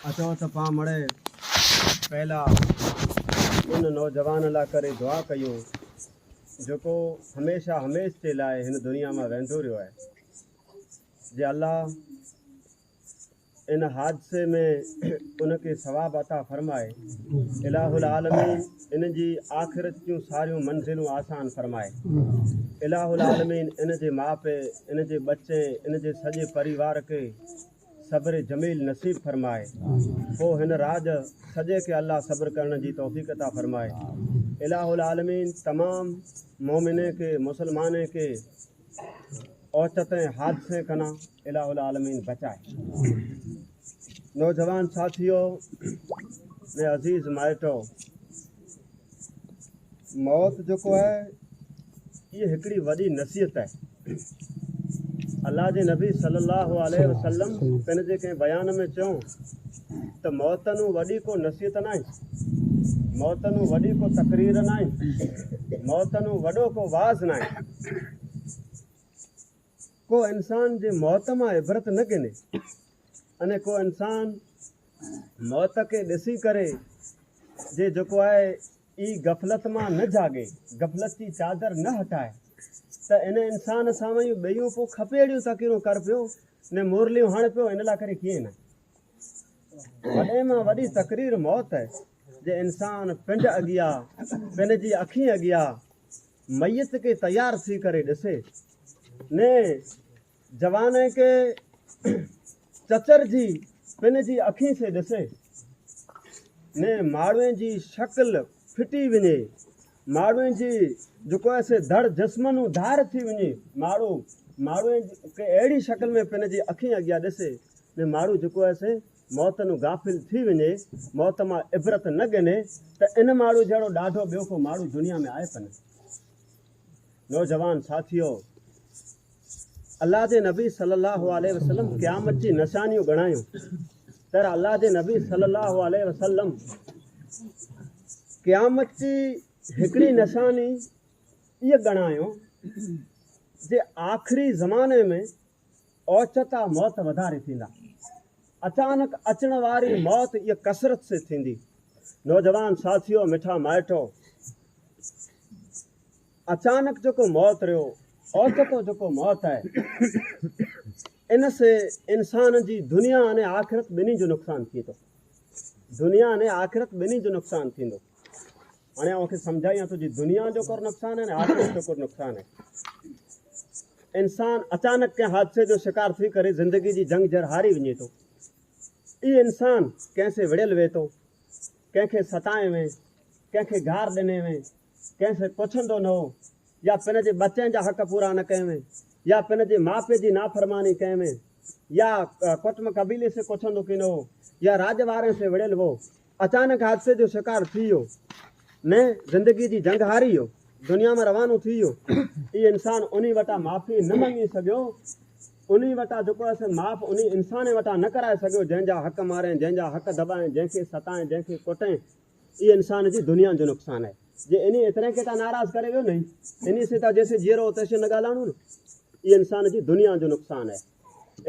اچو ته پان مڙئي پهلا ان نوجوان لاء ڪري دعا ڪيون جيڪو هميشه هميش جي لاء هن دنيا مان ويندو رهيو آهي جي الله ان حادثي ۾ ان کي ثواب عطا فرمائي الٰه العالمين ان جي آخرت جون ساريون منزلون آسان فرمائي الٰه العالمين ان جي ماء پي ان جي ٻچي ان جي سڄي پريوار کي صبر جميل نصيب فرمائي پوء هن رات سڄي کي الله صبر ڪرڻ جي توفيق عطا فرمائي الٰه العالمين تمام مومنين کي مسلمانين کي اوچتين ۽ حادثين کان الٰه العالمين بچائي نوجوان ساٿيو ۾ عزيز مائٽو موت جيڪو آهي اهي هڪڙي وڏي نصيحت آهي الله جي نبي صلي الله عليه وسلم پن جي ڪنهن بيان ۾ چيو ته موت نو وڏي ڪو نصيحت نه آهي موت نو وڏي ڪو تقرير نه آهي موت نو وڏو ڪو واز نه آهي ڪو انسان جي موت مان عبرت نه گهني اني ڪو انسان موت کي ڏسي ڪري جي جيڪو آهي اي غفلت مان نه جاڳي غفلت جي چادر نه هٽائي ته ان انسان سامهون ٻيون پو کپي اهڙيون تقريرون ڪر پيو ني مورليون هڻ پيو ان لاء ڪري ڪيئن نه وڏي مان وڏي تقرير موت جي انسان پنڊ اڳيا پن جي اکين اڳيا ميت کي تيار ٿي ڪري ڏسي ني جوان کي چچر جي پن جي اکين سي ڏسي ني ماڙوين جي شڪل ڦٽي وڃي ماڙوئي جي جيڪو هي سي ڌڙ جسم نون ڌار ٿي وڃي ماڙو ماڙوئي کي اهڙي شڪل ۾ پن جي اکين اڳيان ڏسي ۾ ماڙو جيڪو هي سي موت نون غافل ٿي وڃي موت مان عبرت نه ڳني ته ان ماڙو جهڙو ڏاڍو ٻيو ڪو ماڙو دنيا ۾ آهي پنه نوجوان ساٿيو الله جي نبي صلي الله عليه وسلم قيامت جي نشانيون ڳڻايون تر الله جي نبي صلي الله عليه وسلم قيامت جي هڪڙي نشاني اهي ڳڻايو جي آخري زماني ۾ اوچتا موت وڌاري ٿيندا اچانڪ اچڻ واري موت اهي ڪثرت سي ٿيندي نوجوان ساٿيو مٺا مائٽو اچانڪ جيڪو موت ريو اوچتو جيڪو موت آهي ان سي انسان جي دنيا ۽ آخرت ٻنهي جو نقصان ٿئي ٿو دنيا ۽ آخرت ٻنهي جو نقصان ٿيندو هاڻي اوهان کي سمجھايان ٿو جي دنيا جو ڪور نقصان آهي آخرت جو ڪور نقصان آهي انسان اچانڪ ڪنهن حادثي جو شڪار ٿي ڪري زندگي جي جنگ جر هاري وڃي ٿو اي انسان ڪنهن سي وڙيل وي ٿو ڪنهن کي ستائي وين ڪنهن کي گار ڏني وين ڪنهن کي ڪوڇندو نه هو يا پن جي ٻچن جا حق پورا نه ڪيم يا پن جي ماء پيء جي نافرماني ڪيم يا ڪٽم قبيلي سي ڪوڇندو ڪين هو يا راڄ وارين سي وڙهيل وو اچانڪ حادثي جو شڪار ٿي ويو ۾ زندگي جي جنگ هاري ويو دنيا مان روانو ٿي ويو اي انسان انهي وٽان معافي نه مڱي سگهيو انهي وٽان جيڪو اسين معاف انهي انسان وٽان نه ڪرائي سگهيو جنهن جا حق مارين جنهن جا حق دٻائين جنهن کي ستائين جنهن کي ڪٽين اي انسان جي دنيا جو نقصان آهي جي انهي ايترين کي تان ناراض ڪري ويو نهين انهي سين تان جيسين جيئرو تيسين نه ڳالهاڻو نه اي انسان جي دنيا جو نقصان آهي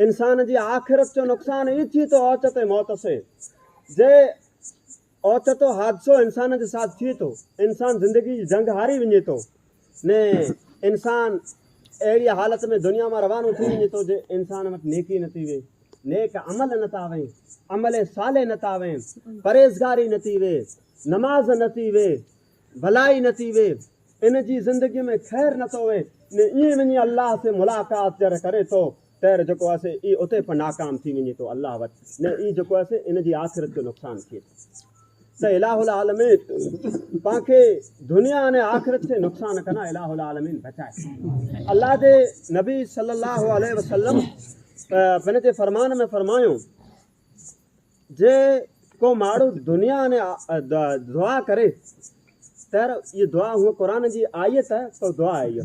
انسان جي آخرت جو نقصان اي ٿي تو اوچتي موت سي جي اوچتو حادثو انسان جي ساٿ ٿي تو انسان زندگي جي جنگ هاري وڃي تو ۾ انسان اهڙيء حالت ۾ دنيا مان روانو ٿي وڃي ٿو جو انسان وٽ نيڪي نه ٿي وي، نيڪ عمل نه ٿا وين، عمل صالح نه ٿا وين، پرهيزگاري نه ٿي وي، نماز نه ٿي وي، ڀلائي نه ٿي وي، ان جي زندگيء ۾ خير نه ٿو وي، ۽ ائين وڃي الله سين ملاقات جڏهن ڪري ٿو طير جيڪو آهي سي ئي اتي پ ناڪام ٿي وڃي ٿو الله وٽ نه ئي جيڪو آهي سي ان جي آخرت جو نقصان ٿئي ٿو ته الاهه العالمين پان کي دنيا ۽ آخرت کي نقصان کان الاهه العالمين بچائي الله جي نبي صلي الله عليه وسلم پن جي فرمان ۾ فرمايو جي ڪو ماڻهو دنيا ۽ دعا ڪري تر هي دعا هو قرآن جي آيت تو دعا آئي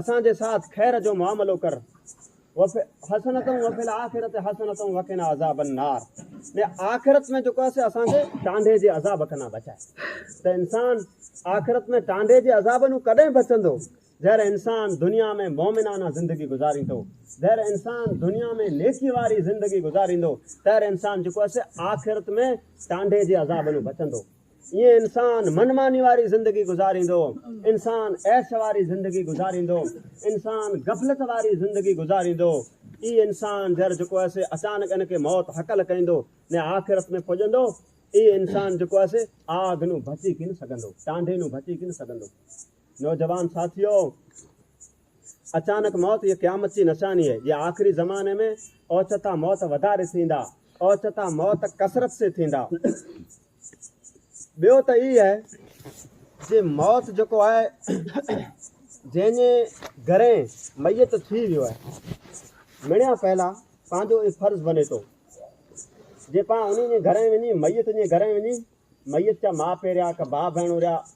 اسان جي ساٿ خير جو معاملو ڪر وف حسنتم وفي الاخرت حسنتم وقنا عذاب النار ۾ آخرت ۾ جيڪو اسي اسان کي ٽانڊي جي عذاب کنا بچائي ته انسان آخرت ۾ ٽانڊي جي عذاب نو ڪڏهن بچندو جهر انسان دنيا ۾ مومنانه زندگي گذاريندو جهر انسان دنيا ۾ نيڪي واري زندگي گذاريندو تهر انسان جيڪو اسي آخرت ۾ ٽانڊي جي عذاب نو بچندو ائين انسان من ماني واري زندگي گذاريندو، انسان عيش واري زندگي گذاريندو، انسان غفلت واري زندگي گذاريندو، اي انسان جر جيڪو آسي اچانڪ ان کي موت هڪل ڪيندو ني آخرت ۾ پڄندو، اي انسان جيڪو آسي آگ نون بچي ڪين سگهندو، ٽانڊي نون بچي ڪين سگهندو. نوجوان ساٿيو! اچانڪ موت هيء قيامت جي نشاني آهي، جي آخري زماني ۾ اوچتا موت وڌاري ٿيندا، اوچتا موت ڪثرت سين ٿيندا. ٻيو ته اهي آهي جي موت جيڪو آهي جنهن جي گرين ميت ٿي ويو آهي، مڙيا پهلا پنهنجو اهي فرض بني ٿو جي پا انهي جي گرين وڃي ميت جي گرين وڃي ميت جا ماء پي رهيا ڪا ڀاء ڀيڻون رهيا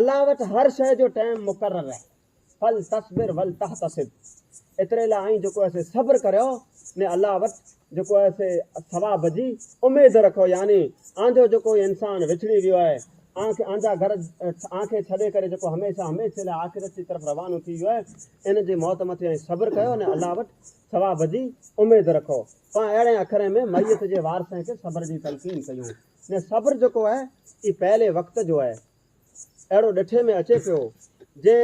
الله وٽ هر شيء جو ٽيم مقرر آهي فلتصبر ولتحتسب ايتري لاء آئين جيڪو اسي صبر ڪريو ۾ الله وٽ جيڪو اسي ثواب جي اميد رکو يعني آنجو جيڪو انسان وڇڙي ويو آهي آن کي آنجا گھر آن کي ڇڏي ڪري جيڪو هميشه هميشه لاء آخرت جي طرف روانو ٿي ويو آهي ان جي موت مٿي آئين صبر ڪيو ۽ الله وٽ ثواب جي اميد رکو پان اهڙي اکرين ۾ ميت جي وارثن کي صبر جي تلقين ڪيون ۾ صبر جيڪو آهي اي پهلي وقت جو آهي اهڙو ڏٺي ۾ اچي پيو جي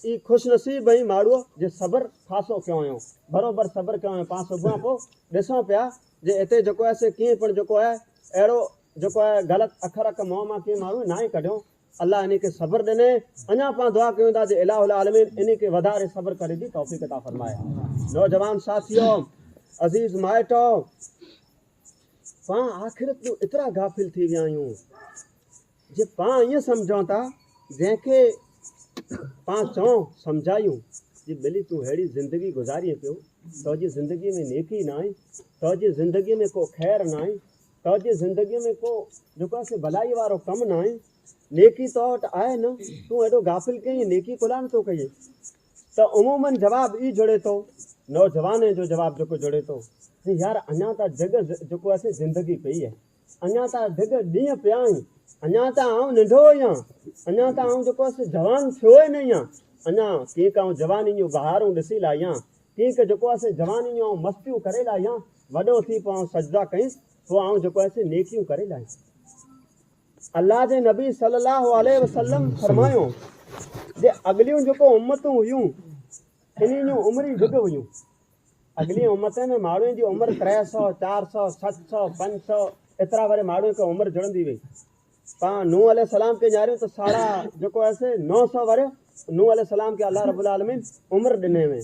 اي خوش نصيب ۽ ماڙو جي صبر خاصو ڪيوئيون بروبر صبر ڪيوئيون پان صبح پو ڏسون پيا جي اتي جيڪو آهي سي ڪين پڻ جيڪو آهي اهڙو جيڪو آهي غلط اکر اک منهن مان ڪين ماڻهو ناهي ڪڍيو الله اني کي صبر ڏني اڃا پان دعا ڪيون ٿا جي الٰه العالمين اني کي وڌاري صبر ڪري جي توفيق عطا فرمائي نوجوان ساٿيو عزيز مائٽو پاڻ آخرت تون ايترا غافل ٿي ويا آهيون جي پاڻ ائين سمجهون ٿا جنهن کي پاڻ چئون سمجهايون جي ٻلي تون ههڙي زندگي گذارين پيو تو جي زندگي ۾ نيڪي نه آهي تو جي زندگي ۾ ڪو خير نه آهي تو جي زندگي ۾ ڪو جيڪو اسي ڀلائي وارو ڪم نه آهي نيڪي تو وٽ آهي نه تون ايڏو غافل ڪئين نيڪي ڪلان ٿو ڪئين ته عمومن جواب ئي جڙي ٿو. نوجوانين جو جواب جيڪو جڙي ٿو جي يار اڃا ته ڊگهه جيڪو آهي سي زندگي پئي آهي. اڃا ته ڊگهه ڏينهن پيا آهن. اڃا ته آئون ننڍو ئي آهيان. اڃا ته آئون جيڪو آهي سي جوان ٿيو ئي نه ئي آهيان. اڃا ڪينڪ آئون جواني جون بهارون ڏسي لاهيان. ڪينڪ جيڪو آهي سي جواني جون آئون مستيون ڪري لاهيان. وڏو ٿي پوء آئون سجدا ڪيس. پوء آئون جيڪو آهي سي نيڪيون ڪري لاهيس. الله جي نبي صلي الله عليه وسلم فرمايو جي اڳليون جيڪو امتون هيون انهن جون عمري ڊگهه هيون اڳلين امتن ۾ ماڻهن جي عمر 300 400 700 500 ايترا وري ماڻهن کي عمر جڙندي وئي پا نو عليه السلام کي نياريون ته ساڙا جيڪو آهي 900 وري نو عليه السلام کي الله رب العالمين عمر ڏني وئي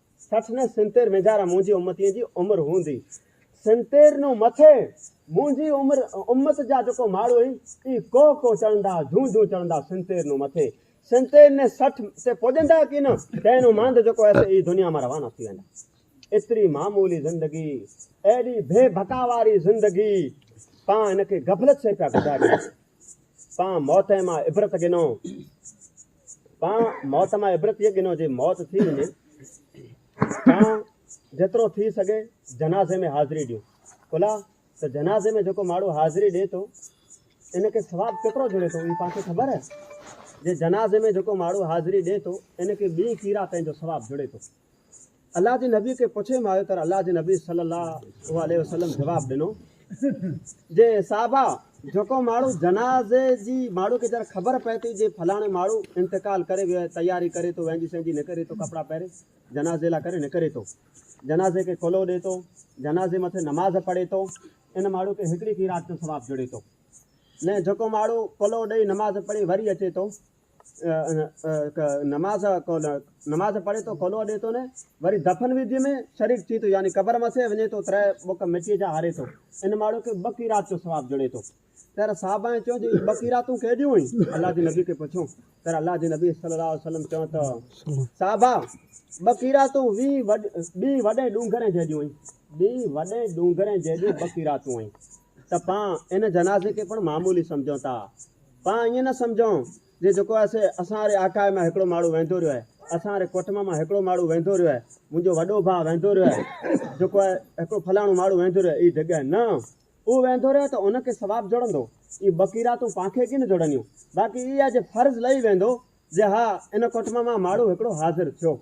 سٺ نه سنتير وينجهارا منهنجي امتين جي عمر هوندي سنتير نون مٿي منهنجي عمر امت جا جيڪو ماڙهو هين اي ڪو ڪو چڙهندا جون جون چڙهندا سنتير نون مٿي سنتير نه سٺ تي پڄندا ڪي نه تنهن نون ماند جيڪو ايسي اي دنيا مان روانا ٿي ويندا ايتري معمولي زندگي ايڏي بي بھڪا واري زندگي پان ان کي غفلت سي پيا گذاريون پان موت مان عبرت گنو تان موت مان عبرت هيء گنو جي موت ٿي وڃي تان جيترو ٿي سگهي جنازي ۾ حاضري ڏيون ڪلا ته جنازي ۾ جيڪو ماڻهو حاضري ڏي ٿو ان کي ثواب ڪيترو جڙي ٿو اهي پاڻ کي خبر آهي جي جنازي ۾ جيڪو ماڻهو حاضري ڏي ٿو ان کي ٻي ڪيرا پنهنجو ثواب جڙي ٿو الله جي نبي کي پڇي مان آيو ته الله جي نبي صلي الله عليه وسلم جواب ڏنو جي صحابه جيڪو ماڻهو جنازي جي ماڻهو کي جڏهن خبر پئي ٿي جي فلاڻي ماڻهو انتقال ڪري ويو آهي تياري ڪري ٿو وهنجي سهنجي نڪري ٿو ڪپڙا پهري جنازي لاء ڪري نڪري ٿو جنازي کي کلو ڏي ٿو جنازي مٿي نماز پڙهي ٿو ان ماڻهو کي هڪڙي قيرات جو ثواب جڙي ٿو نه جيڪو ماڻهو کلو ڏئي نماز پڙهي وري اچي ٿو نماز نماز پڙهي ٿو کولو ڏي ٿو نه وري دفن ويدي ۾ شريڪ ٿي ٿو يعني قبر مسي وڃي ٿو تري بک مٽي جا هاري ٿو ان ماڻهو کي ٻه قيرات جو ثواب جڙي ٿو تر صاحب ۽ چون جي ٻه قيراتون ڪيڏيون هئي الله جي نبي کي پڇو تر الله جي نبي صلي الله عليه وسلم چون ته صاحب ٻه قيراتون وي ٻي وڏي ڏونگرن جيڏيون هئي ٻي وڏي ڏونگرن جيڏيون ٻه قيراتون هئي ته پان ان جنازي کي پڻ معمولي سمجهون ٿا. پان ائين نه سمجهون جي جيڪو آهي سي اسان واري آڪاهي مان هڪڙو ماڙهو ويندو رهيو آهي، اسان واري ڪوٽنب مان هڪڙو ماڙهو ويندو رهيو آهي، منهنجو وڏو ڀاء ويندو رهيو آهي، جيڪو آهي هڪڙو فلاڻو ماڙهو ويندو رهيو آهي، اهي جڳهه نه. اهو ويندو رهيو ته ان کي ثواب جڙندو. اهي ٻه قيراتون پان کي ڪين جڙنديون. باقي اهي آهي جي فرض لهي ويندو جي ها ان ڪوٽنب مان ماڙهو هڪڙو حاضر ٿيو.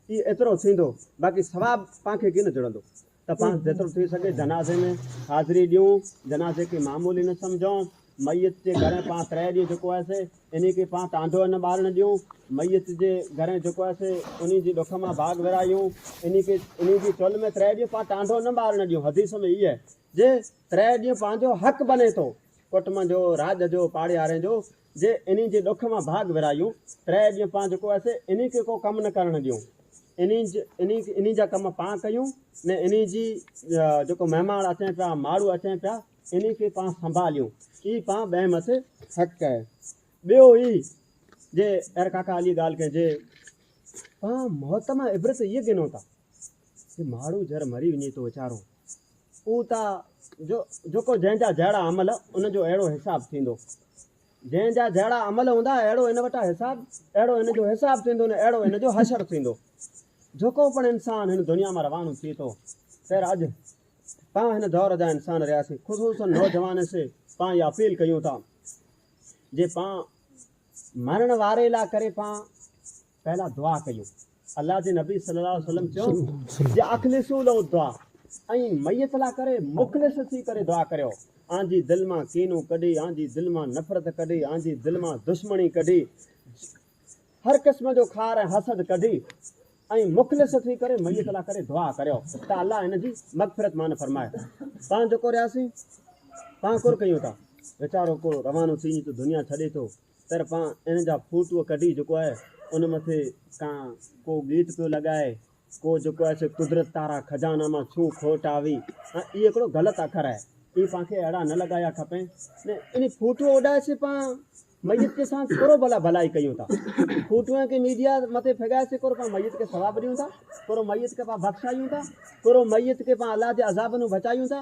اهي ايترو ٿيندو. باقي ثواب پان کي ڪين جڙندو. ته پاڻ جيترو ٿي سگهي جنازي ۾ حاضري ڏيون، جنازي کي معمولي نه سمجهون، ميت جي گهرين پاڻ ترهي ڏينهن جيڪو آهي سي انهي کي پاڻ ٽانڊو نه ٻارڻ ڏيون، ميت جي گهرين جيڪو آهي سي انهي جي ڏک مان باگ ورايون، انهي کي انهي جي چولهه ۾ ترهي ڏينهن پاڻ ٽانڊو نه ٻارڻ ڏيون، حديث ۾ هي آهي جي ترهي ڏينهن پنهنجو حق بني ٿو، ڪٽنب جو، راڄ جو، پاڙيارين جو، جي انهين جي ڏک مان ڀاڳ ورهايون، ترهه ڏينهن پان جيڪو اسين انهين کي ڪو ڪم نه ڪرڻ ڏيون، انهين انهين جا ڪم پان ڪيون، نه انهين جي جيڪو مهماڻ اچين پيا، ماڙهو اچين پيا، انهين کي پان سنڀاليون، اي پان ٻئي مٿي حق ڪئي. ٻيو اي جي اير ڪاڪا علي ڳالهه ڪئي جي پان موت مان عبرت اي گنون ٿا، جي ماڙهو جر مري وڃي ٿو ويچارو، اهو ته جو جيڪو جنهن جا جهڙا عمل ان جو اهڙو حساب ٿيندو جنهن جا جهڙا عمل هوندا اهڙو ان وٽان حساب اهڙو ان جو حساب ٿيندو نه اهڙو ان جو حشر ٿيندو جيڪو پڻ انسان هن دنيا مان روانو ٿي ٿو خير اڄ پاڻ هن دور جا انسان رهياسي خصوصا نوجوان سي پاڻ اها اپيل ڪيون ٿا جي پاڻ مرڻ واري لا ڪري پاڻ پهلا دعا ڪيو. الله جي نبي صلي الله عليه وسلم چيو جي اخلصو له الدعا ۽ ميت لا ڪري مخلص ٿي ڪري دعا ڪريو آن جي دل مان ڪينو ڪڍي آن جي دل مان نفرت ڪڍي آن جي دل مان دشمني ڪڍي هر قسم جو خار ۽ حسد ڪڍي ۽ مخلص ٿي ڪري ميت لا ڪري دعا ڪريو ته الله ان جي مغفرت مان فرمائي پان جو ڪورياسي پان ڪور ڪيون ٿا ويچارو ڪو روانو ٿي ته دنيا ڇڏي ٿو طرفان ان جا فوٽو ڪڍي جيڪو آهي ان مٿي ڪان ڪو ڳيت پيو لڳائي ڪو جيڪو آهي سي قدرت تارا خزانا مان ڇو کوٽ آوي ها اي هڪڙو غلط اکر آهي اي پان کي اهڙا نه لڳايا کپين نه ان فوٽو اڏائي سي پان ميت کي سان ڪورو ڀلا ڀلائي ڪيون ٿا فوٽو کي ميڊيا مٿي ڦڳائي سي ڪورو پان ميت کي ثواب ڏيون ٿا ڪورو ميت کي پان بخشايون ٿا ڪورو ميت کي پان الله جي عذاب نو بچايون ٿا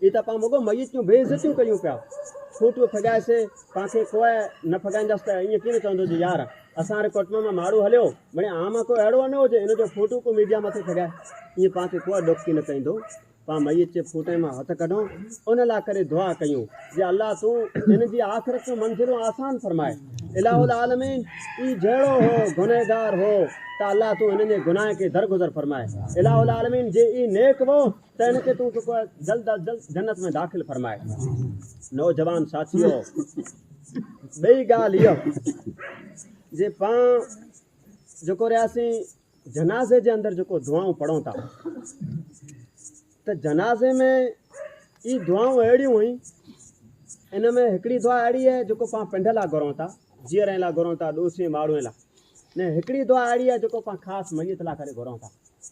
اي ته پان مڳو ميت جون بي عزتيون ڪريون پيا. ڦوٽيون ڦڳائي سي پان کي ڪوء نه ڦڳائينداس ته ائين ڪين چوندو جو يار اسان واري ڪٽنب مان ماڙو هليو بڻي آء مان ڪو اهڙو نه هجي ان جو ڦوٽو ڪو ميڊيا مٿي ڦڳائي. ائين پان کي ڪوء ڏوڪ ڪين ڪيندو. پان ميت جي ڦوٽي مان هٿ ڪڍون ان لاء ڪري دعا ڪيون جي الله تون انهن جي آخرت جون منزلون آسان فرماء. اله العالمين اي جهڙو هو گنهگار هو ته الله تون انهن جي گناهن کي درگذر فرماء. اله العالمين جي اي نيڪ وو تنهن کي تون جيڪو آهي جلد از جلد جنت ۾ داخل فرماء. نوجوان ساٿيو! ٻئي ڳالهه اها جي پان جيڪو رهي اسين جنازي جي اندر جيڪو دعائون پڙهون ٿا ته جنازي ۾ اي دعائون اهڙيون هئين ان ۾ هڪڙي دعا اهڙي آهي جيڪو پان پنڊ لا گهرون ٿا جيئرن لا گهرون ٿا ڏوسين ماڻهن لا نه هڪڙي دعا اهڙي آهي جيڪو پان خاص ميت لا ڪري گهرون ٿا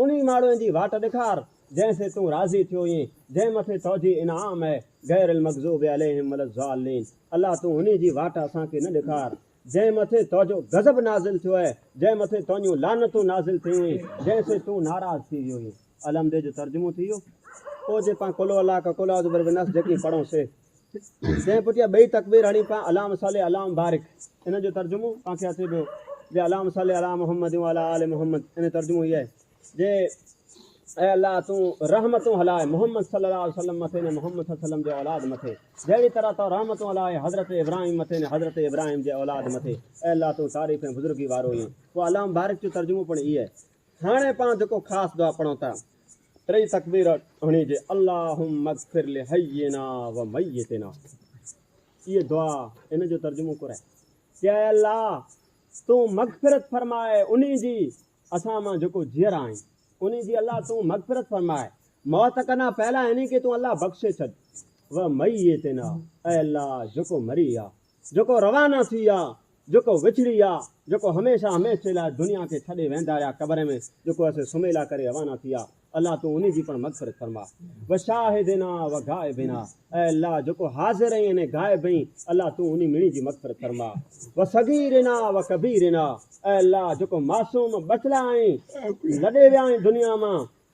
انهي ماڙوئين جي واٽ ڏيکار، جنهن سين تون راضي ٿيو هئين، جنهن مٿي توجي انعام اهي، غير المغضوب عليهم ولا الضالين، الله تون انهي جي واٽ اسان کي نه ڏيکار، جنهن مٿي توجو غضب نازل ٿيو اهي، جنهن مٿي تنهنجون لعنتون نازل ٿيون هيون، جنهن سين تون ناراض ٿي ويو هئين. الحمد جو ترجمو ٿي ويو. پوء جي پان قل هو الله احد، قل اعوذ برب الناس جيڪي پڙهون سي. جنهن پٺيان ٻئي تڪبير هڻي پان اللهم صلي اللهم بارڪ ان جو ترجمو پان کي اچي پيو جي اللهم صلي علي محمد وعلى آل محمد ان ترجمو هي آهي جي اي الله تون رحمتون هلائي محمد صلي الله عليه وسلم مٿي نه محمد صلي الله عليه وسلم جي اولاد مٿي جهڙي طرح تو رحمتون هلائي حضرت ابراهيم مٿي نه حضرت ابراهيم جي اولاد مٿي اي الله تون تعريف ۽ بزرگي وارو هي پوء اللهم بارڪ جو ترجمو پڻ هي آهي هاڻي پان جيڪو خاص دعا پڙهون ٿا، ٽئي تڪبير هڻي جي اللهم اغفر لحينا وميتنا اهي دعا ان جو ترجمو ڪري ڪي اي الله تون مغفرت فرماء انهي جي اسان مان جيڪو جيئرا آهن انهي جي الله تون مغفرت فرماء موت کنا پهلا انهي کي تون الله بخشي ڇڏ وميتنا اي الله جيڪو مري ويا جيڪو روانا ٿي ويا، جيڪو وڇڙي ويا، جيڪو هميشه هميشه لاء دنيا کي ڇڏي ويندا رهيا قبر ۾ جيڪو اسي سميلا ڪري روانا ٿي ويا الله تون انهي جي پڻ مغفرت فرما وشاهدنا وغائبنا اي الله جيڪو حاضر ۽ انهي غائب ۽ الله تون انهي مڙي جي مغفرت فرما وصغيرنا وڪبيرنا اي الله جيڪو معصوم ٻچلا ۽ لڏي ويا ۽ دنيا مان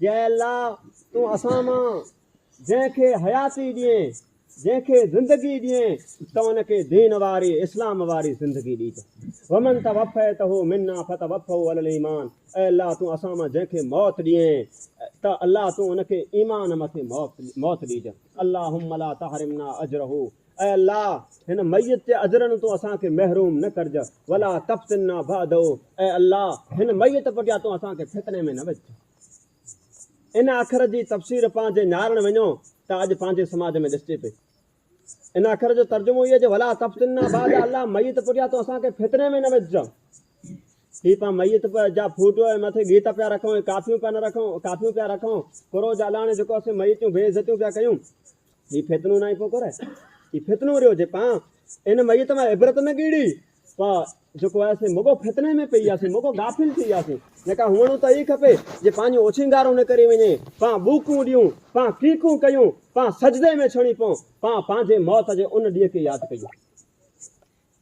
جي الله! تون اسان مان جنهن کي حياتي ڏين، جنهن کي زندگي ڏين ته ان کي دين واري، اسلام واري زندگي ڏيج. ومن توفيته منا فتوفه علي الايمان اي الله! تون اسان مان جنهن کي موت ڏين ته الله تون ان کي ايمان مٿي موت ڏيج. اللهم لا تحرمنا اجره اي الله! هن ميت جي اجرن تون اسان کي محروم نه ڪرج، ولا تفتنا بعده، اي الله! هن ميت پٺيان تون اسان کي فتني ۾ نه وجهج. ان اکر جي تفسير پان جي نهارڻ وڃو ته اڄ پنهنجي سماج ۾ ڏسجي پئي. ان اکر جو ترجمو هي جو ولا تفتنا بعده، اي الله! ميت پٺيان تون اسان کي فتني ۾ نه وجهج. هي پان ميت جا ڦوٽو ۽ مٿي گيت پيا رکون ۽ ڪافيون پيا نه رکون، ڪافيون پيا رکون، ڪرو جالاڻي جيڪو اسين ميتون بي عزتيون پيا ڪيون، هي فتنو ناهي ڪو ڪري هي فتنو ريو جي پان ان ميت مان عبرت نه گيڙي پا جيڪو آهي سي مگو فتني ۾ پئي وياسي مگو غافل ٿي وياسي جيڪا هوڻو ته هي کپي جي پنهنجو اوڇنگارو نه ڪري وڃي پا ٻوڪون ڏيون پا ڪيڪون ڪيون پا سجدي ۾ ڇڻي پون پا پنهنجي موت جي ان ڏينهن کي ياد ڪيون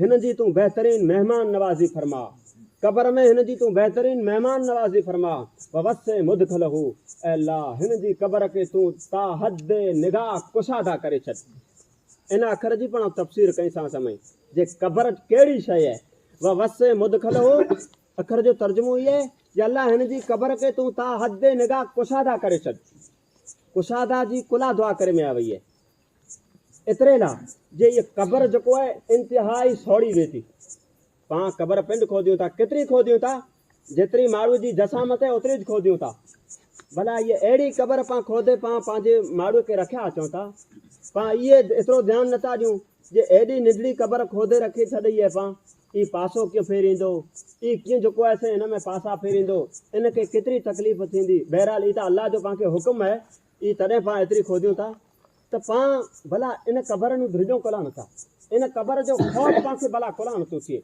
هن جي تون بهترين مهمان نوازي فرماء. قبر ۾ هن جي تون بهترين مهمان نوازي فرماء ووسع مدخله اي الله هن جي قبر کي تون تاحد نگاهه ڪشاده ڪري ڇڏ ان اکر جي پڻ تفسير ڪئين سان سمي جي قبر ڪهڙي شئي اهي ووسع مدخله اکر جو ترجمو اهي اهي جي الله هن جي قبر کي تون تاحد نگاهه ڪشاده ڪري ڇڏ ڪشاده جي ڪلها دعا ڪري ميا وئي اهي ايتري لا جي هيء قبر جيڪو آهي انتهائي سوڙهي ويئي ٿي. پاڻ قبر پنڊ کوڌيون ٿا، ڪيتري کوڌيون ٿا، جيتري ماڙهوء جي جسامت آهي اوتري ئي کوڌيون ٿا. ڀلا هيء اهڙي قبر پاڻ کوڌي پاڻ پنهنجي ماڙهوء کي رکيا اچون ٿا. پاڻ اهي ايترو ڌيان نه ٿا ڏيون جي ايڏي ننڍڙي قبر کوڌي رکي ڇڏئي اهي پاڻ اي پاسو ڪيئن ڦيريندو، اي ڪيئن جيڪو آهي سي هن ۾ پاسا ڦيريندو، ان کي ڪيتري تڪليف ٿيندي، بهرحال هي ته الله جو پاڻ کي حڪم آهي، اي تڏهن پاڻ ايتري کوڌيون ٿا. ته پان ڀلا ان قبر نون ڌرجون ڪولان نٿا ان قبر جو خوف پان کي ڀلا ڪولان نٿو ٿئي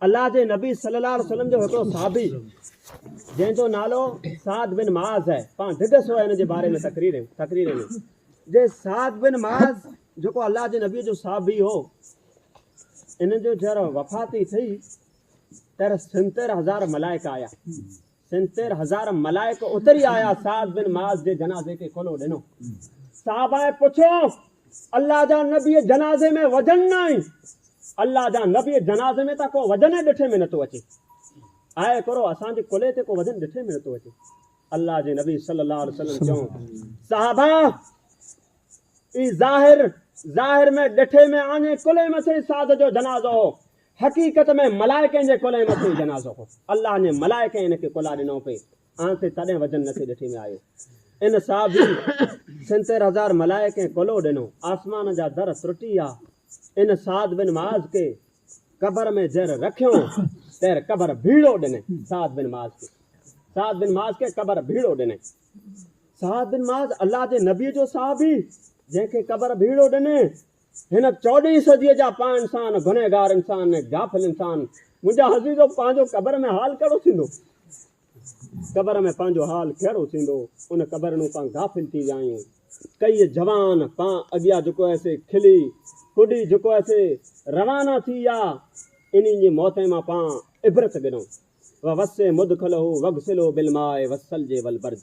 الله جي نبي صلي الله عليه وسلم جو هڪڙو صحابي جنهن جو نالو سعد بن معاذ آهي پان ڊگه سو ان جي باري ۾ تقرير تقرير ۾ جي سعد بن معاذ جيڪو الله جي نبي جو صحابي هو ان جو جر وفاتي ٿي تر سنتر هزار ملائڪ آيا سنسير هزارم ملائڪ اتري آيا سعد بن معاذ جي جنازي کي کلو ڏنو صحابائن پڇيو الله جا نبي جنازي ۾ وجن نه آهين الله جا نبي جنازي ۾ ته ڪو وجن ئي ڏٺي ۾ نٿو اچي آء ڪرو اسان جي ڪلهي تي ڪو وجن ڏٺي ۾ نٿو اچي الله جي نبي صلي الله عليه وسلم چيو صحابا اي ظاهر ظاهر ۾ ڏٺي ۾ آڃي ڪلهي مٿي سعد جو جنازو هو حقيقت ۾ ملائڪين جي ڪلهي مٿي هي جنازو هو. الله جي ملائڪين هن کي ڪلها ڏنو پي آن سي تڏهن وجن نه ٿي ڏٺي ۾ آيو. ان صحابي سنتير هزار ملائڪين ڪلهو ڏنو. آسمان جا در ترٽي ويا. ان سعد بن معاذ کي قبر ۾ جهر رکيو تهر قبر ڀيڙو ڏني سعد بن معاذ کي سعد بن معاذ کي قبر ڀيڙو ڏني سعد بن معاذ الله جي نبي جو صحابي جنهن کي قبر ڀيڙو ڏني هن چوڏهين صديء جا پاء انسان، گنهگار انسان ۽ غافل انسان، منهنجا عزيزو، پنهنجو قبر ۾ حال ڪهڙو ٿيندو؟ قبر ۾ پنهنجو حال ڪهڙو ٿيندو؟ ان قبر نون پان غافل ٿي ويا آهيون. ڪيئي جوان پان اڳيا جهڪو هيسي، کلي ڪڏي جهڪو هيسي، روانا ٿي ويا. انهين جي موتين مان پان عبرت گڏئون. ووسي مدخله وغسله بالماء والثلج والبرد.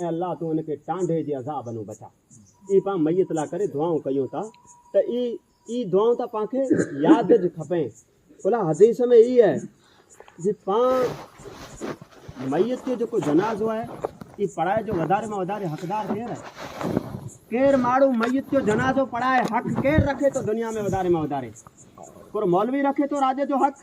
اي الله تون ان کي ٽانڊهي جي عذاب انون بچاء اي پان ميت لا ڪري دعائون ڪيون ٿا ته اي اي دعائون ته پان کي ياد ج کپين الا حديث ۾ اي آهي جي پان ميت جو جيڪو جنازو آهي اي پڙهائي جو وڌاري مان وڌاري حقدار ڪير آهي ڪير ماڻهو ميت جو جنازو پڙهائي حق ڪير رکي ٿو دنيا ۾ وڌاري مان وڌاري پر مولوي رکي ٿو راڄ جو حق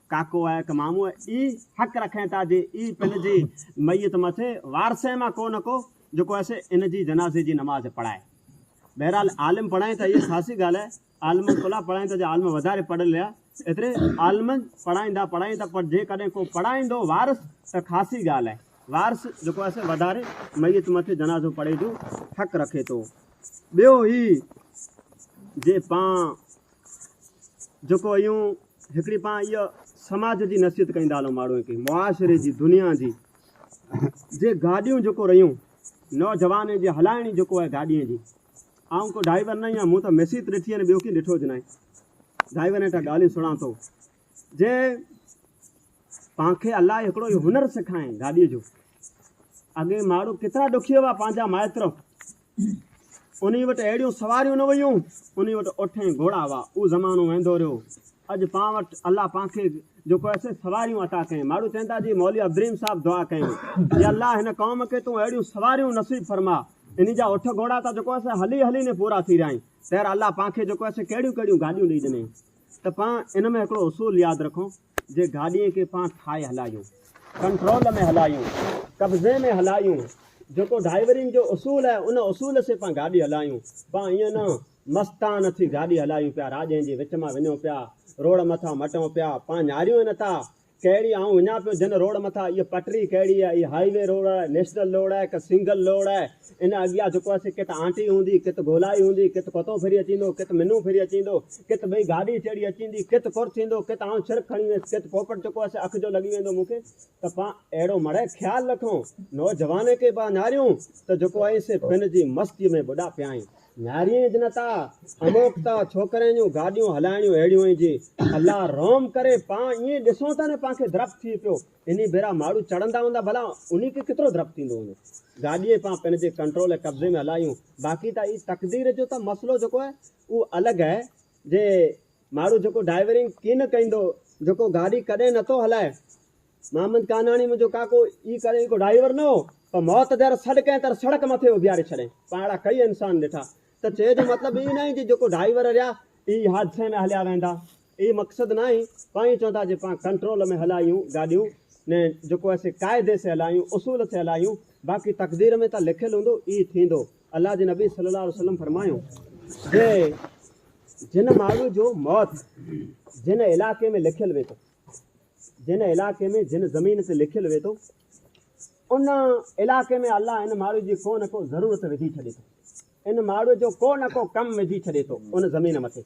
ڪاڪو اي ڪه مامو اي حق رکين ٿا جي اي پن جي ميت مٿي وارثين مان ڪو نه ڪو جيڪو ايسي ان جي جنازي جي نماز پڙهائي. بهرحال عالم پڙهائين ٿا اي خاصي ڳالهه آهي عالمن ڪلها پڙهائين ٿا جي عالم وڌاري پڙهيل ليا ايتري عالم پڙهائيندا پڙهائين ٿا پر جيڪڏهن ڪو پڙهائيندو وارث ته خاصي ڳالهه آهي وارث جيڪو ايسي وڌاري ميت مٿي جنازو پڙهي جو حق رکي ٿو. ٻيو هي جي پان. جيڪو ايون هڪڙي پان ايء سماج جي نصيحت ڪئين دالون ماڙوئين ڪئين معاشري جي دنيا جي جي گاڏيون جيڪو رهيون نوجوانين جي هلائڻي جيڪو آهي گاڏين جي آئون ڪو ڊائيور نه آهيان مون ته مسيت ڏٺي آهي ٻيو ڪين ڏٺو جنائي ڊائيور هيٺا ڳالهيون سڻان ٿو جي پانکي الله هڪڙو هنر سکائين گاڏي جو اڳي ماڙو ڪيترا ڏکي هئا پنهنجا مائتر انهيء وٽ اهڙيون سواريون نه ويون، انهيء وٽ اٺ ۽ گهوڙا هئا. اهو زمانو ويندو رهيو. اڄ پان وٽ الله پان کي جيڪو اهي سي سواريون عطا ڪيائين. ماڙهو چئن ٿا جي مولوي ابرهيم صاحب دعا ڪيائين، يا الله هن قوم کي تون اهڙيون سواريون نصيب فرما. انهيء جا اٺ گهوڙا ته جيڪو اهي سي هلي هلي ني پورا ٿي رهيائين. تير الله پان کي جيڪو اهي سي ڪهڙيون ڪهڙيون گاڏيون ڏئي ڏنيائين. ته پان ان ۾ هڪڙو اصول ياد رکون. جي گاڏيء کي پان ٺاهي هلايون، ڪنٽرول ۾ هلايون، قبضي ۾ هلايون، جيڪو ڊائيورنگ جو اصول آهي، ان اصول سين پان گاڏي هلايون، پان ائين نه مستانه ٿي گاڏي هلايون پيا، راڄين جي وچ مان وڃون پيا، روڊ مٿان مٽون پيا، پان نهاريون ئي نه ٿا، ڪهڙي آئون وڃان پيو جن روڊ مٿان، اهي پٽري ڪهڙي آهي، اهي هاء وي روڊ آهي، نيشنل روڊ آهي ڪه سنگل روڊ آهي، ان اڳيان جيڪو آسي ڪٿ آنٽي هوندي، ڪٿ گولائي هوندي، ڪٿ ڪتو ڦري اچيندو، ڪٿ منو ڦري اچيندو، ڪٿ ٻئي گاڏي چڙهي اچيندي، ڪٿ ڪر ٿيندو، ڪٿ آئون سر کڻي ويس، ڪٿ پوپٽ جيڪو آسي اک جو لڳي ويندو مون کي ته پان اهڙو مڙئي خيال رکون. نوجواني کي با نهاريون ته جيڪو آهين سي پن جي مستيء ۾ ٻڏا پيا آهين. نهاريين جنتا، اموڪتا، ڇوڪرين جون گاڏيون هلائڻيون اهڙيون آهن جي الله رحم ڪري پان ائين ڏسون ته نه پان کي ڌرپ ٿئي پيو انهي ڀيرا ماڙهو چڙهندا هوندا ڀلا انهي کي ڪيترو ڊپ ٿيندو هوندو. گاڏيء پان پنهنجي ڪنٽرول ۽ قبضي ۾ هلايون باقي ته اهي تقدير جو ته مسئلو جيڪو آهي اهو الڳ آهي جي ماڙهو جيڪو ڊائيورنگ ڪين ڪيندو جيڪو گاڏي ڪڏهن نه ٿو هلائي محمد ڪانهاڻي منهنجو ڪاڪو اي ڪڏهن ڪو ڊائيور نه هو پر موت دير سڏ ڪئين تر سڙڪ مٿي اڀياري ڇڏين پاڻ اهڙا ڪئي انسان ڏٺا ته چئي جو مطلب اهي ناهي جي جيڪو ڊائيور رهيا اهي حادثي ۾ هليا ويندا اهي مقصد ناهي پائين چون ٿا جي پان ڪنٽرول ۾ هلايون گاڏيون نه جيڪو اسي قاعدي سي هلايون اصول سي هلايون باقي تقدير ۾ ته لکيل هوندو ئي ٿيندو الله جي نبي صلي الله عليه وسلم فرمايو جي جن ماڻهو جو موت جن علائقي ۾ لکيل وي ٿو جن علائقي ۾ جن زمين تي لکيل وي ٿو ان علائقي ۾ الله ان ماڻهو جي ڪو نه ڪو ضرورت وجهي ڇڏي ٿو ان ماڻهو جو ڪو نه ڪو ڪم وجهي ڇڏي ٿو ان زمين مٿي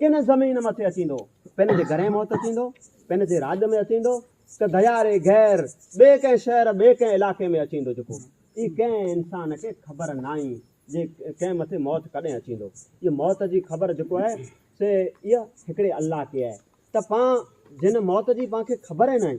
ڪنھن زمين مٿي اچيندو، پنھن جي گھرين موت اچيندو، پنھن جي راڄ ۾ اچيندو ته گھياري غير ٻئي ڪنھن شھر ٻئي ڪنھن علائقي ۾ اچيندو جيڪو ئي ڪنھن انسان کي خبر ناھي جي ڪنھن مٿي موت ڪڏھن اچيندو ھيء موت جي خبر جيڪو آھي سي اھا ھڪڙي الله کي آھي ته پان جنھن موت جي پان کي خبر ئي ناھي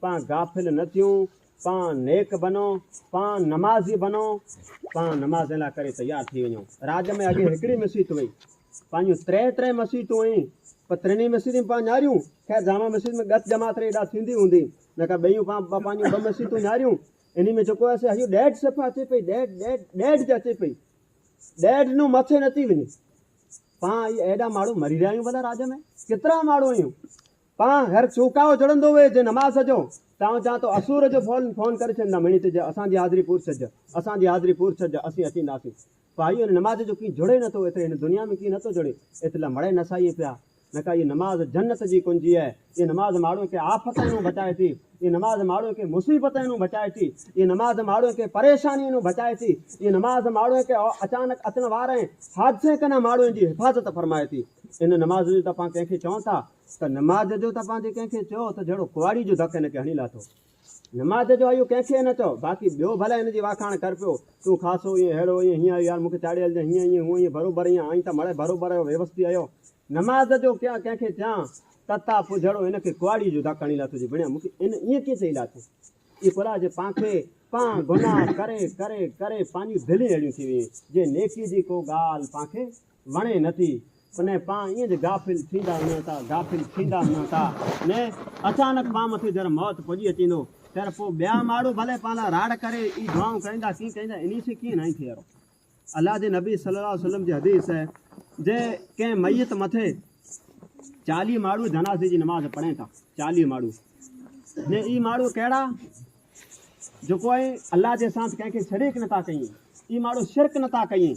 پان غافل نه ٿيون، پان نيڪ بنو، پان نمازي بنو، پان نماز لا ڪري تيار ٿي وڃو. راڄ ۾ اڳي هڪڙي مسيت هئي، پنهنجون ٽي ٽي مسيتون هيون، پر ٽنهي مسيتون پان نياريون، خير جامع مسجد ۾ ڳچ جماعت ري ادا ٿيندي هوندي، نه ڪا ٻيون پان پنهنجون ٻه مسيتون نياريون، انهي ۾ جيڪو آهي سي هيء ڏيڍ صفحه اچي پئي، ڏيڍ ڏيڍ ڏيڍ جي اچي پئي، ڏيڍ نو مٿي نه ٿي وڃي. پان اهي ايڏا ماڻهو مري رهيا آهيون ڀلا راڄ ۾، ڪيترا ماڻهو هيون، پان گهر چونڪائو جڙندو وي جي نماز جو تان جان تو اسور جو فون فون ڪري ڇڏندا ميڻي تي جي اسان جي حاضري پور ڇڏج اسان جي حاضري پور ڇڏج اسين اچينداسين پاهي ان نماز جو ڪين جڙي نه ٿو ايتري هن دنيا ۾ ڪين نه ٿو جڙي ايتلا مڙئي نه ساهيين پيا نڪا هي نماز جنت جي ڪنجي اهي هي نماز ماڻهو کي آفتن هون بچائي ٿي هي نماز ماڻهو کي مصيبتن هون بچائي ٿي هي نماز ماڻهو کي پريشانين هون بچائي ٿي هي نماز ماڻهو کي اچانڪ اچڻ وارين حادثين ڪنا ماڻهو جي حفاظت فرمائي ٿي ان نماز جو ته پان ڪنهن کي چون ٿا ته نماز جو تپان جي ڪنهن کي چئو ته جهڙو ڪئواڙي جو ڌڪ هن کي هڻي لاٿو. نماز جو اهو ڪنهن کي نه چئو، باقي ٻيو ڀلا هن جي واکاڻ ڪر پيو، تون خاصو ائين ههڙو ائين هيئن آهيو يار مون کي چاڙهي هلجانء هيئن ائين هونء ائين بروبر ائين آئين ته مڙهي بروبر آهيو ويوستي آهيو. نماز جو ڪيان ڪنهن کي چيان تتا پوء جهڙو هن کي ڪئواڙي جو ڌڪ هڻي لاٿو جي بڻيا مون کي هن ائين ڪيئن چئي لاٿو. اي ڦلا جي پان کي پان گناهه ڪري ڪري ڪري پانجون دلين اهڙيون ٿي ويئي جي نيڪي جي ڪو ڳالهه پان کي وڻي نه ٿي تنهن پان ايئن جي غافل ٿيندا نه تا غافل ٿيندا نه تا نه اچانڪ پان مٿي جر موت پڄي اچيندو تر پو ٻيا ماڙهو ڀلي پان لا راڙ ڪري اي دعائون ڪريندا ڪين ڪريندا انهي سين ڪين ناهين ٿئي اهڙو الله جي نبي صلي الله عليه وسلم جي حديث آهي جي ڪنهن ميت مٿي چاليهه ماڙهو جنازي جي نماز پڙهين ٿا چاليهه ماڙهو جي اي ماڙهو ڪهڙا جو ڪوئي الله جي ساٿ ڪنهن کي شريڪ نه تا ڪيين اي ماڙهو شرڪ نه تا ڪيين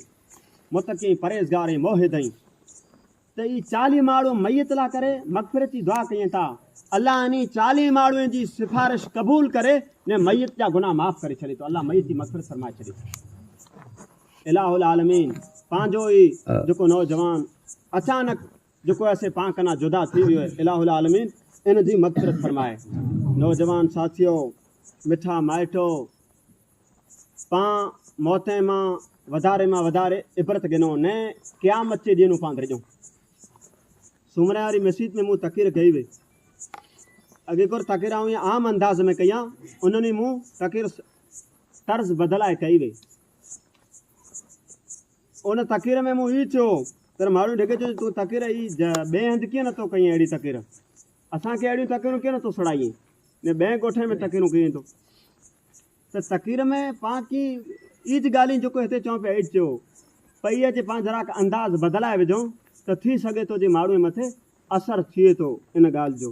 متقي پرهيزگار ۽ موحد ۽ ته اي چاليهه ماڙهو ميت لا ڪري مغفرت جي دعا ڪيين ٿا الله انهي چاليهه ماڙهوئين جي سفارش قبول ڪري ني ميت جا گناهه معاف ڪري ڇڏي ٿو الله ميت جي مغفرت فرمائي ڇڏي ٿو اله العالمين پنهنجو ئي جيڪو نوجوان اچانڪ جيڪو اسين پان ڪنا جدا ٿي ويو اله العالمين ان جي مغفرت فرمائي نوجوان ساٿيو مٺا مائٽو پان موتين مان وڌاري مان وڌاري عبرت گنو نه قيامت جي ڏينو پان ڌرجون سومري واري مسجد ۾ مون تقرير ڪئي وئي اڳي ڪور تقرير آئون عام انداز ۾ ڪيان انهن مون تقرير طرز بدلائي ڪئي وئي ان تقرير ۾ مون هي چيو تر ماڙهو ڍڳي چيو جو تون تقرير اي ج ٻئي هنڌ ڪيئن نٿو ڪئين اهڙي تقرير اسان کي اهڙيون تقريرون ڪيئن نٿو سڙائين ن ٻئي ڳوٺين ۾ تقريرون ڪيئين ٿو ته تقرير ۾ پان ڪي اي ج ڳالهين جيڪو هتي چون پيا اي ج چيو پئي اچي پان ذراڪ انداز بدلائي وجهون ته ٿي سگهي ٿو جي ماڙهوء مٿي اثر ٿئي ٿو ان ڳالهه جو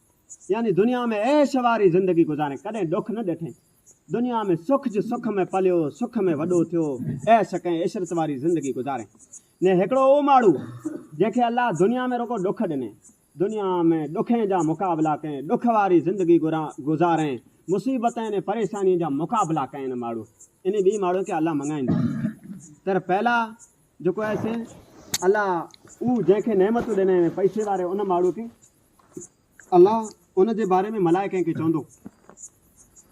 يعني دنيا ۾ عيش واري زندگي گذارين، ڪڏهن ڏک نه ڏٺين. دنيا ۾ سک جي سک ۾ پليو، سک ۾ وڏو ٿيو، عيش ڪئين، عشرت واري زندگي گذارين. ني هڪڙو اهو ماڻهو، جنهن کي الله دنيا ۾ رڳو ڏک ڏني. دنيا ۾ ڏکين جا مقابلا ڪئين، ڏک واري زندگي گذارين، مصيبتين ۽ پريشانين جا مقابلا ڪئين. ان ماڻهو، انهي ٻئي ماڻهو کي الله مڱائيندو. تر پيلا جيڪو آهي سي الله اهو جنهن کي نعمتون ڏنين، پئسي واري ان ماڻهو کي الله ان جي باري ۾ ملائڪن کي چوندو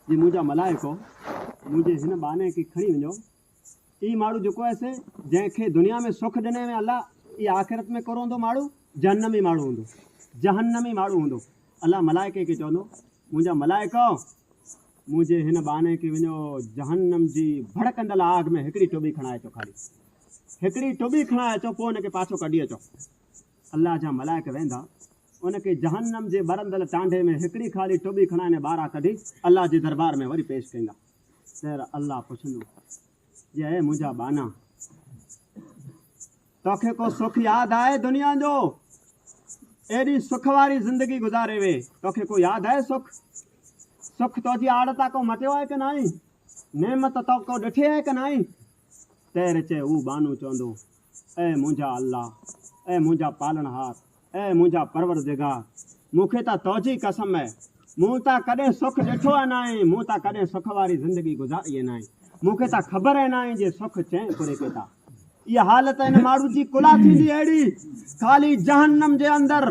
جي منهنجا ملائڪو منهنجي هن ٻانهي کي کڻي وڃو اي ماڙهو جيڪو هي سي جنهن کي دنيا ۾ سک ڏني ۾ الله اي آخرت ۾ ڪروندو ماڙهو جهنمي ماڙهو هوندو جهنمي ماڙهو هوندو الله ملائڪن کي چوندو منهنجا ملائڪو منهنجي هن ٻانهي کي وڃو جهنم جي ڀڙڪندل آگ ۾ هڪڙي ٽوٻي کڻائي اچو خالي هڪڙي ٽوٻي کڻائي اچو پوء ان کي پاڇو ڪڍي اچو الله جا ملائڪ ويندا ان کي جهنم جي ٻرندل ٽانڍي ۾ هڪڙي خالي ٽٻي کڻائيندي ٻاهران ڪڍي الله جي دربار ۾ وري پيش ڪيندا پير الله پڇندو جي اي منهنجا ٻانا توکي ڪو سک ياد آهي دنيا جو ايڏي سک واري زندگي گذاري وي توکي ڪو ياد آهي سک سک تو جي آڙ تا ڪو مٽيو آهي ڪه ناهي نعمت تو ڪو ڏٺي آهي ڪه ناهي تير چي هو بانو چوندو اي منهنجا الله! اي منهنجا پالڻهار! اي منهنجا پروردگار! مون کي ته تنهجي قسم اي! مون ته ڪڏهن سک ڏٺو ئي ناهي، مون ته ڪڏهن سک واري زندگي گذاري ئي ناهي، مون کي ته خبر ئي ناهي جي سک چئين ڪوري کي ٿا. اها حالت ان ماڻهو جي ڪلها ٿيندي اهڙي خالي جهنم جي اندر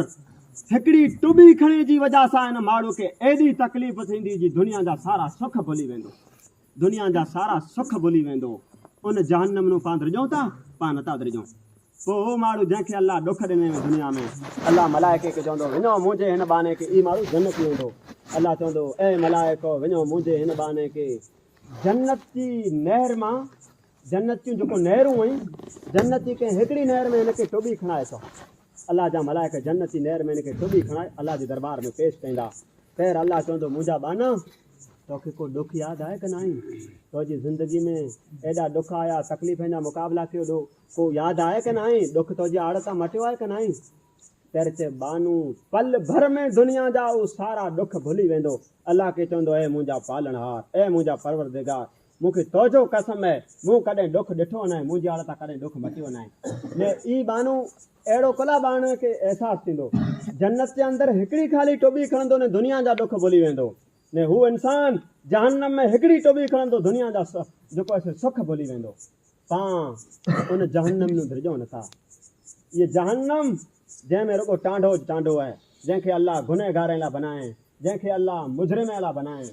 هڪڙي ٽٻي کڻي جي وجهه سان ان ماڻهو کي ايڏي تڪليف ٿيندي جي دنيا جا سارا سک ڀلي ويندو. دنيا جا سارا سک ڀلي ويندو. ان جهنم نون پان درڄون ٿا، پان نٿا درڄون. پوء اهو ماڻهو جنهن کي الله ڏک ڏني هئي دنيا ۾، الله ملائڪي کي چوندو، وڃو منهنجي هن ٻانهي کي اي ماڻهو جنتي ويندو. الله چوندو، اي ملائڪو وڃو منهنجي هن ٻانهي کي جنت جي نهر مان. جنت جون جيڪو نهرون هئين، جنتي ڪنهن هڪڙي نهر ۾ هن کي ٽٻي کڻائي ٿو. الله جا ملائڪ جنتي نهر ۾ هن کي ٽٻي کڻائي الله جي دربار ۾ پيش ڪيندا. خير الله چوندو منهنجا ٻانها! تو کي ڪو ڏک ياد آهي ڪه ناهي؟ تو جي زندگي ۾ ايڏا ڏک آيا، تڪليفن جا مقابلا ڪيو ڏو ڪو ياد آهي ڪه ناهي؟ ڏک تو جي آڙ تان مٽيو آهي ڪه ناهي؟ خير چئي ٻانهو پل ڀر ۾ دنيا جا اهي سارا ڏک ڀلي ويندو. الله کي چوندو اي منهنجا پالڻهار! اي منهنجا پروردگار! مون کي تو جو قسم اهي مون ڪڏهن ڏک ڏٺو ناهي منهنجي آڙ تان ڪڏهن ڏک مٽيو ناهي ني اي ٻانهون اهڙو ڪلا ٻانهن کي احساس ٿيندو جنت جي اندر هڪڙي خالي ٽٻي کڻندو ني دنيا جا ڏک ڀلي ويندو ني هو انسان جهنم ۾ هڪڙي ٽٻي کڻندو دنيا جا جيڪو اسي سک ڀلي ويندو پان ان جهنم نون ڌرجو نٿا اي جهنم جنهن ۾ رڳو ٽانڊو ٽانڊو اهي جنهن کي الله گنهگارين لا بنائين جنهن کي الله مجرمين لا بنائين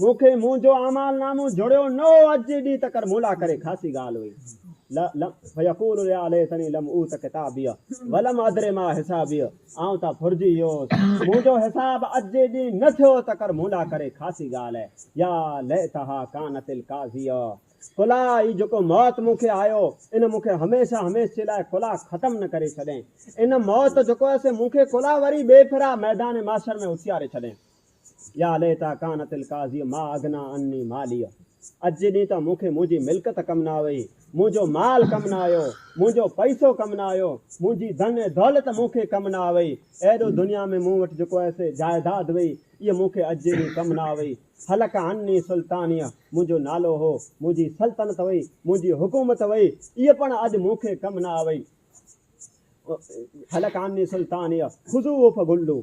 مون کي منهنجو اعمال نامو جڙيو نه هو اڄ جي ڏينهن تڪر مون لاء ڪري خاصي ڳالهه هئي لا لم فيقول يا ليتني لم اوت ڪتابيه ولم ادري ما حسابيه آئون ته ڦرجي ويو هوس منهنجو حساب اڄ جي ڏينهن نه ٿيو تڪر مون لاء ڪري خاصي ڳالهه يا ليتها ڪانت القاضيه ڪلا هي جيڪو موت مون کي آيو ان مون کي هميشه هميشه جي لاء ڪلا ختم نه ڪري ڇڏين ان موت جيڪو آهي سي مون کي ڪلا وري ٻي ڦرا ميدان محشر ۾ اٿياري ڇڏين يا ليتا ڪانت القاضيء ما اغنيٰ عني ماليء اڄ جي ڏينهن ته مون کي منهنجي ملڪت ڪم نه آئي، منهنجو مال ڪم نه آيو، منهنجو پئسو ڪم نه آيو، منهنجي ڌن ۽ دولت مون کي ڪم نه آئي، ايڏو دنيا ۾ مون وٽ جيڪو ايسي جائيداد هئي، اهي مون کي اڄ جي ڏينهن ڪم نه آئي. هلڪ عني سلطانيه منهنجو نالو هو، منهنجي سلطنت هئي، منهنجي حڪومت هئي، اهي پڻ اڄ مون کي ڪم نه آئي. هلڪ عني سلطانيه خذوه فغلوه.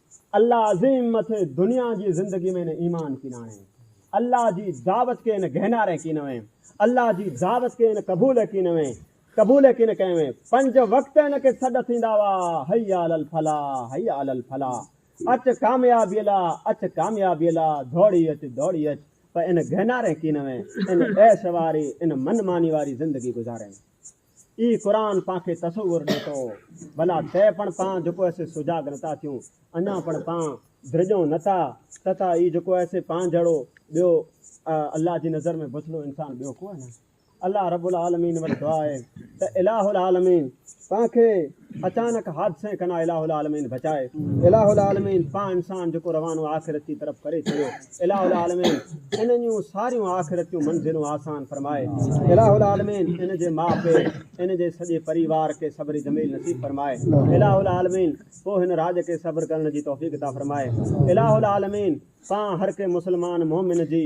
الله عظيم مٿي دنيا جي زندگي ۾ نه ايمان ڪين آڻي الله جي دعوت کي نه گهناري ڪين وين الله جي دعوت کي نه قبول ڪين وين قبول ڪين ڪئي وين پنج وقت هن کي سڏ ٿيندا هئا حي علي الفلاح حي علي الفلاح اچ ڪاميابي لا اچ ڪاميابي لا ڌوڙي اچ ڌوڙي اچ پر ان گهناري ڪين وين ان عيش واري ان من ماني واري زندگي گذارين اي قرآن پان کي تصور ڏي تو ڀلا تي پڻ پان جڪو اسي سجاڳ نتا ٿيون اڃا پڻ پان درڄون نتا تتا اي جڪو اسي پان جھڙو ٻيو الله جي نظر ۾ بڇڙو انسان ٻيو ڪوئي نه الله رب العالمين وٽ دعا آهي ته اله العالمين پان کي اچانڪ حادثي کان اله العالمين بچائي اله العالمين پاڻ انسان جيڪو روانو آخرت جي طرف ڪري ڇڏيو اله العالمين انهن جون ساريون آخرت جون منزلون آسان فرمائي اله العالمين ان جي ماء پي ان جي سڄي پريوار کي صبر جميل نصيب فرمائي اله العالمين پوء هن راڄ کي صبر ڪرڻ جي توفيق عطا فرمائي اله العالمين پاڻ هر ڪنهن مسلمان مؤمن جي